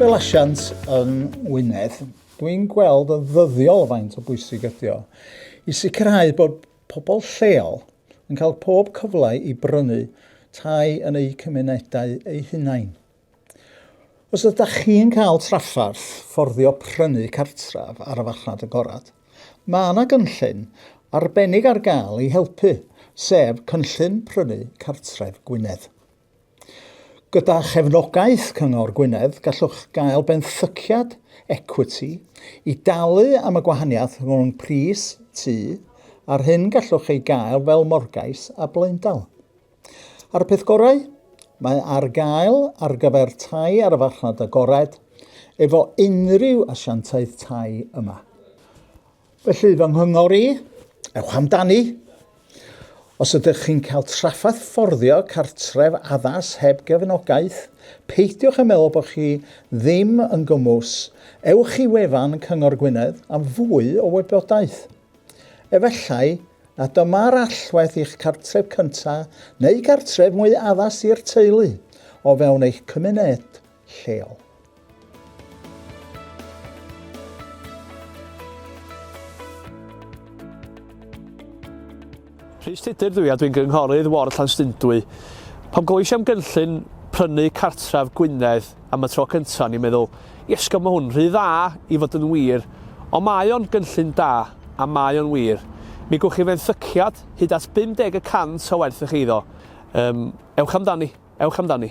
Fel asiant yng Ngwynedd, dwi'n gweld yn ddyddiol faint o bwysig ydy o i sicrhau bod pobl lleol yn cael pob cyfle i brynu tai yn eu cymunedau eu hunain. Os ydych chi'n cael trafferth fforddio prynu cartref ar y farchnad agored, mae yna gynllun arbennig ar gael i helpu, sef Cynllun Prynu Cartref Gwynedd. Gyda chefnogaeth Cyngor Gwynedd, gallwch gael benthyciad ecwiti i dalu am y gwahaniaeth rhwng pris tŷ a'r hyn gallwch ei gael fel morgais a blaendal. A'r peth gorau, mae ar gael ar gyfer tai ar y farchnad agored efo unrhyw asiantaeth tai yma. Felly fy nghyngor i, ewch amdani. Os ydych chi'n cael traffath fforddio cartref addas heb gefnogaeth, peidiwch â meddwl bod chi ddim yn gymwys. Ewch i wefan Cyngor Gwynedd am fwy o wybodaeth. Efallai na dyma'r allwedd i'ch cartref cyntaf neu gartref mwy addas i'r teulu o fewn eich cymuned lleol. Rhys Tudur dw i a dwi'n gynghorydd ward Llanstundwy. Pam glywais i am gynllun prynu cartref Gwynedd am y tro cyntaf o'n i'n meddwl, iesgob mae hwn rhy dda i fod yn wir, ond mae o'n gynllun da a mae o'n wir. Mi gwch chi fenthyciad hyd at 50 y cant o werth eich eiddo. Um, ewch amdani, ewch amdani.